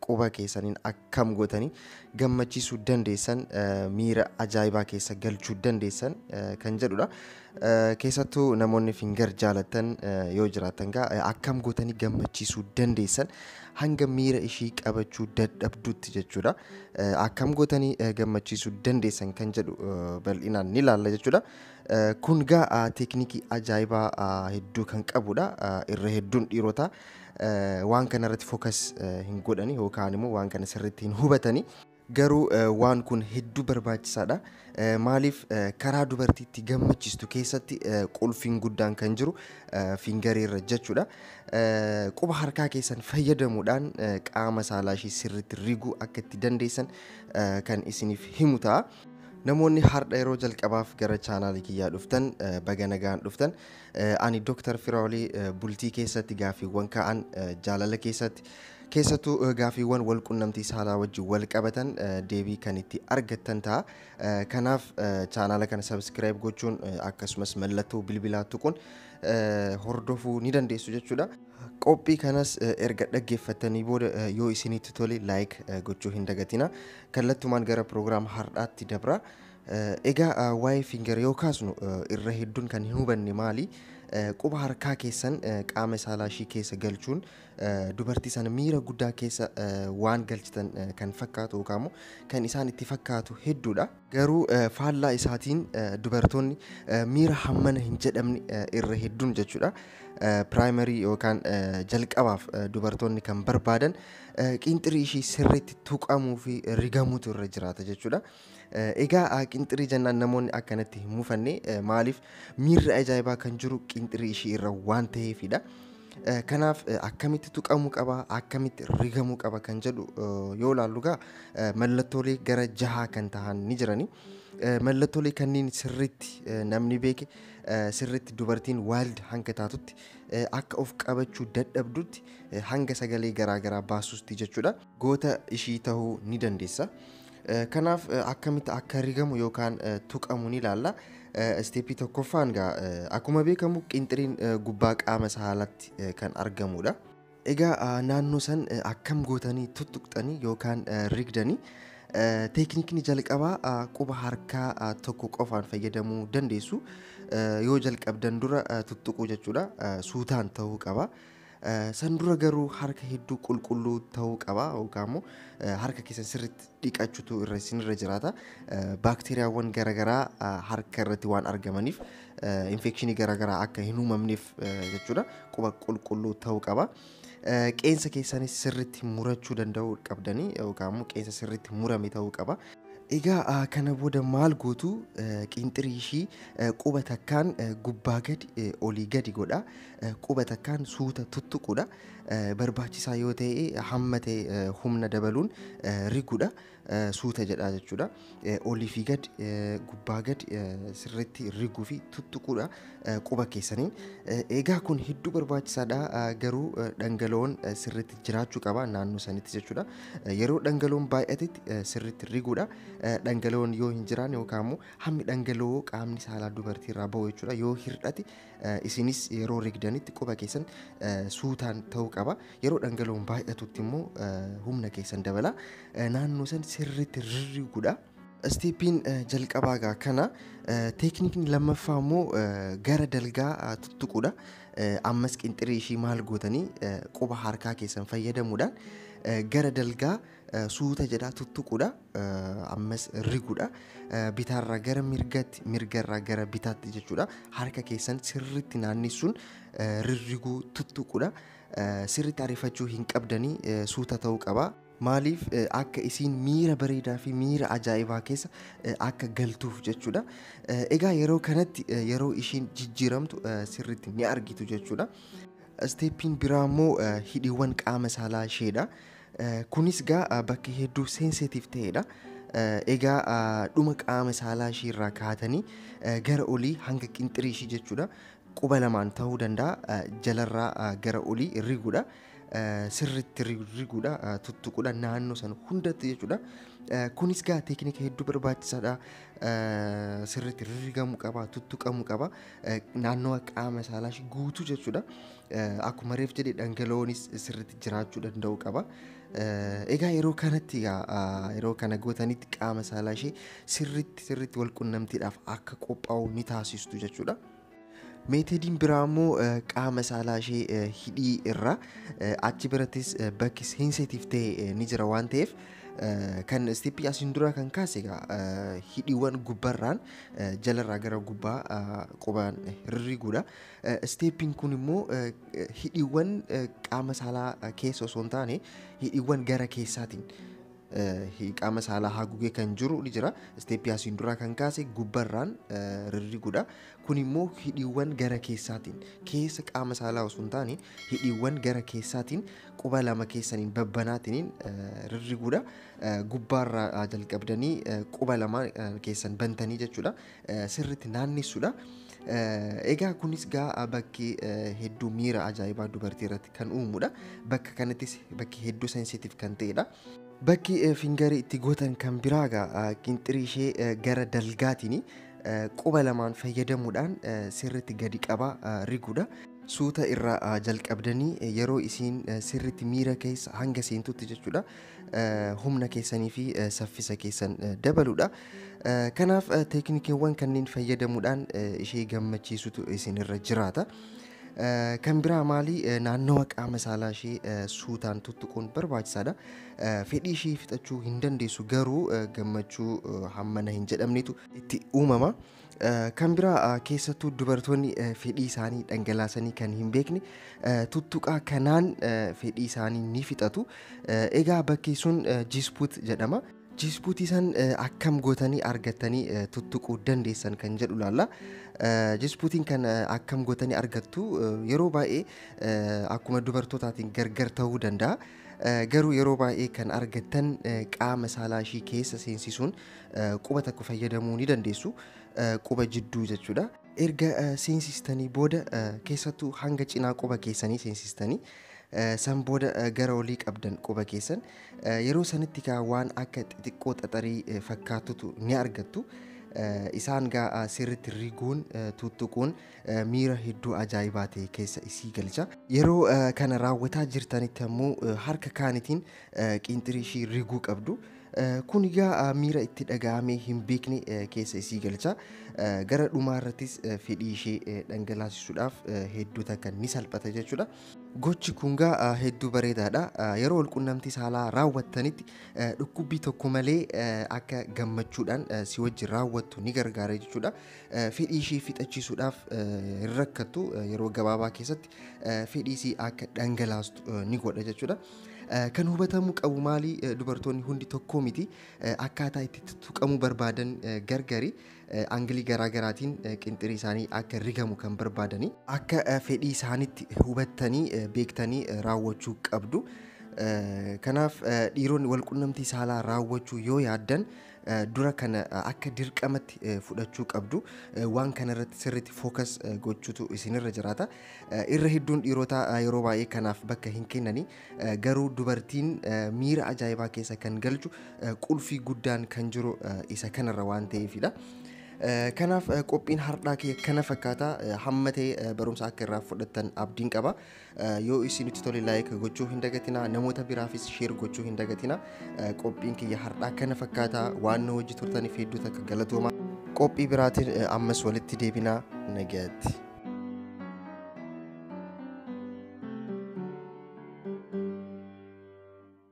quba keessaniin akkam gootanii gammachiisuu dandeessan, miira ajaa'ibaa keessa galchuu dandeessan kan jedhudha. Keessattuu namoonni finger jaalattan yoo jiraattan gaa akkam gootanii gammachiisuu dandeessan hanga miira ishii qabachuu dadhabdutti jechuudha. Akkam gootanii gammachiisuu dandeessan kan jedhu bal'inaan ni laalla jechuudha. Kun gaa teeknikii ajaa'ibaa hedduu kan qabudha. Irra hedduun dhiirotaa waan kana irratti focus hin godhani yookaan immoo waan kana sirriitti hin hubatani. Garuu waan kun hedduu barbaachisaadha. Maaliif karaa dubartiitti gammachiistu keessatti qulfiin guddaan kan jiru fingarii irra jechuudha. Quba harkaa keessan fayyadamuudhaan qaama saalaa ishee sirriitti riguu akka itti dandeessan kan isiniif himu ta'a. Namoonni har'a yeroo jalqabaaf gara chaanaalii kiyyaa dhuftan baga nagaan dhuftan. Ani Dr. Firaoli bultii keessatti gaaffiiwwan ka'an jaalala keessatti keessattuu gaaffiiwwan wal qunnamtii saalaa wajjin wal qabatan deebii kan itti argattan ta'a. Kanaaf chaanaala kana sabiskiraayib gochuun akkasumas mallattoo bilbilaa tuquun hordofuu ni dandeessu jechuudha. Qophii kanas erga dhaggeeffattanii booda yoo isinitti tole laayik gochuu hin dagatina. Kallattumaan gara piroogiraama har'aatti dabra. Egaa waa'ee finger yoo kaasnu irra hedduun kan hin hubanne maali? Quba harkaa keessan qaama saalaa ishii keessa galchuun dubartii sana miira guddaa keessa waan galchitan kan fakkaatu yookaan immoo kan isaan itti fakkaatu hedduudha. Garuu faallaa isaatiin dubartoonni miira hammana hin jedhamne irra hedduun jechuudha. Piraayimarii yookaan jalqabaaf dubartoonni kan barbaadan qiinxirii ishii sirriitti tuqamuu fi rigamuutu irra jiraata jechuudha. Egaa qinxirii jennaan namoonni akkanatti hin mufanne maaliif miirri ajaa'ibaa kan jiru qinxirii ishii irra waan ta'eefidha. Kanaaf akkamitti tuqamuu qaba akkamitti rigamuu qaba kan jedhu yoo ilaallu gaa mallattoolee gara jahaa kan tahan ni jirani. Mallattoolee kanneen sirriitti namni beeke sirriitti dubartiin waalid hanga taatutti akka of qabachuu dadhabdutti hanga sagalee garaa garaa baasuusti jechuudha. goota ishii tahuu ni dandeessa. Kanaaf akkamitti akka rigamu yookaan tuqamu ni ilaalla. Isteeppii tokkoffaan gaa akkuma beekamu qinxiriin gubbaa qaama saalatti kan argamudha. Egaa naannoo san akkam gootanii tuttuqxanii yookaan rigdanii teeknikni jalqabaa quba harkaa tokko qofaan fayyadamuu dandeessu. Yoo jalqabdan dura tuttuquu jechuudha. Suutaan ta'uu qaba. San dura garuu harka hedduu qulqulluu ta'uu qaba yookaan immoo harka keessan sirriitti dhiqachuutu irra isinirra jiraata. Baakteeriyaawwan garaagaraa harka irratti waan argamaniif infekshinii garaagaraa akka hin uumamneef jechuudha quba qulqulluu ta'uu qaba. Qeensa keessanis sirriitti murachuu danda'uu qabdanii yookaan immoo qeensa sirriitti murame ta'uu qaba. Egaa kana booda maal gootu qinxirii ishii quba takkaan gubbaa gadi olii gadi godha. quba takkaan suuta tuttuquudha. Barbaachisaa yoo ta'e hamma ta'e humna dabaluun riguudha. Suuta jedhaa jechuudha. Olii fi gad gubbaa gad sirriitti riguu fi tuttuquudha quba keessaniin. Egaa kun hedduu barbaachisaadha garuu dhangala'oon sirriitti jiraachuu qaba naannoo sanitti jechuudha. Yeroo dhangala'oon baay'atetti sirriitti riguudha. Dhangala'oon yoo hin jiraanne yookaan immoo hammi dhangala'oo qaamni saalaa dubartiirraa ba'u jechuudha yoo hir'ate Isinis yeroo rigdanitti quba keessan suutaan ta'uu qaba. Yeroo dhangala'oon baay'atutti immoo humna keessan dabala. Naannoo san sirriitti rirriguudha. Isteeppiin jalqabaa egaa kana. Teeknikni lammaffaa immoo gara dalgaa tuttuquudha. Ammas qinxirii ishii maal gootanii quba harkaa keessan fayyadamuudhaan gara dalgaa suuta jedhaa tuttuquudha ammas riguudha bitaarraa gara mirgatti mirgarraa gara bitaatti jechuudha harka keessan sirriitti naannessuun rirriguu tuttuquudha sirriitti ariifachuu hin qabdanii suuta ta'uu qaba. Maaliif akka isiin miira bareedaa fi miira ajaa'ibaa keessa akka galtuuf jechuudha. Egaa yeroo kanatti yeroo ishiin jijjiiramtu sirriitti ni argitu jechuudha. Isteeppiin biraa immoo hidhiiwwan qaama saalaa isheedha. Kunis egaa bakka hedduu sensitive ta'edha. Egaa dhuma qaama saalaa ishii irraa kaatanii gara olii hanga qinxirii ishii jechuudha. Quba lamaan ta'uu danda'a jalarraa gara olii riguudha. Sirriitti riguudha tuttuquudha naannoo sana hundatti jechuudha. Kunis egaa teeknika hedduu barbaachisaadha. Sirriitti rigamuu qaba tuttuqamuu qaba naannoo qaama saalaa ishii guutuu jechuudha. Akkuma reef jedhe dhangala'oonis sirriitti jiraachuu danda'u qaba. Egaa yeroo kanatti egaa yeroo kana gootanitti qaama saalaa ishee sirriitti sirriitti wal qunnamtiidhaaf akka qophaa'u ni taasistu jechuudha. Meetodiin biraa immoo qaama saalaa ishee hidhii irraa achi birattis bakki seenseetiif ta'e ni jira waan ta'eef kan istippii asiin dura kan kaase egaa hidhiiwwan gubbarraan jalarraa gara gubbaa qubaan rirriguudha. Isteeppiin kun immoo hidhiiwwan qaama saalaa keessa osoo hin taane hidhiiwwan gara keessaatiin qaama saalaa haguugee kan jiru ni jira. Isteeppii asiin duraa kan kaase gubbarraan rirriguudha. Kun immoo hidhiiwwan gara keessaatiin keessa qaama saalaa osoo hin taane hidhiiwwan gara keessaatiin quba lama keessaniin babbanaatiin rirriguudha. Gubbaarraa jalqabdanii quba lama keessan bantanii jechuudha. sirriitti naannessuudha. Egaa kunis gaa bakki hedduu miira ajaa'ibaa dubartii irratti kan uumudha. Bakka kanattis bakki hedduu sensitiif kan ta'edha. Bakki fingarii itti gootan kan biraa gaa qinxirii ishee gara dalgaatiin quba lamaan fayyadamuudhaan sirriitti gadi qabaa riguudha. Suuta irraa jalqabdanii yeroo isiin sirriitti miira keessa hanga seentutti jechuudha. humna keessanii fi saffisa keessan dabaludha. Kanaaf teeknikeewwan kanneen fayyadamuudhaan ishee gammachiisutu isinirra jiraata. Kan biraa maali naannawa qaama saalaa ishee suutaan tuttuquun barbaachisaadha. Fedhii ishee fixachuu hin dandeessu garuu gammachuu hammana hin jedhamnetu itti uumama. Kan biraa keessattuu dubartoonni fedhii isaanii dhangalaasanii kan hin beekne tuttuqaa kanaan fedhii isaanii ni fixatu. Egaa bakki sun Jiispuut jedhama. Jiispuutii san akkam gootanii argattanii tuttuquu dandeessan kan jedhu laalla. Jiispuutiin kan akkam gootanii argattu yeroo baay'ee akkuma dubartootaatiin gargar ta'uu danda'a. Garuu yeroo baay'ee kan argattan qaama saalaa ishii keessa seensisuun quba takka fayyadamuu ni dandeessu quba jidduu jechuudha. Erga seensistanii booda keessattuu hanga cinaa quba keessanii seensistanii san booda gara olii qabdan quba keessan yeroo sanitti kaa waan akka xixiqqoo xaxarii fakkaatutu ni argattu. Isaan gaa sirritti riguun tuttuquun miira hedduu ajaa'ibaa ta'e keessa isii galcha. Yeroo kana raawwataa jirtanitti ammoo harka kaanitiin qiinxirii ishii riguu qabdu. Kun egaa miira itti dhaga'amee hin beekne keessa isii galcha. Gara dhumaa irrattis fedhii ishee dhangalaasisuudhaaf hedduu takka ni salphata jechuudha. Gochi kun egaa hedduu bareedaadha. Yeroo walqunnamtii saalaa raawwattanitti dhukkubbii tokko malee akka gammachuudhaan si wajjin raawwattu ni gargaara jechuudha. Fedhii ishee fixachiisuudhaaf hin rakkattu yeroo gabaabaa keessatti fedhii isii akka dhangalaastu ni godha jechuudha. Kan hubatamuu qabu maali? Dubartoonni hundi tokkoo miti. Akkaataa itti tuttuqamuu barbaadan gargari. Angilii garaa garaatiin qinxirii isaanii akka rigamu kan barbaadani. Akka fedhii isaanitti hubattanii beektanii raawwachuu qabdu. Kanaaf dhiironni walqunnamtii saalaa raawwachuu yoo yaaddan dura kana akka dirqamatti fudhachuu qabdu. Waan kana irratti sirriitti focus gochuutu isinirra jiraata. Irra hedduun dhiirotaa yeroo baay'ee kanaaf bakka hin kennani. Garuu dubartiin miira ajaa'ibaa keessa kan galchu qulfii guddaan kan jiru isa kanarra waan ta'eefidha. Kanaaf qophiin hardhaa kee kana fakkaata hamma ta'e barumsa akka irraa fudhattan abdiin qaba. Yoo isinitti tole like gochuu hin dagatinaa namoota biraafis share gochuu hin dagatinaa qophiin kiyya har'aa kana fakkaata waan nu hojii turtaniif hedduu takka galatooma qophii biraatiin ammas walitti deebinaa nagaatti.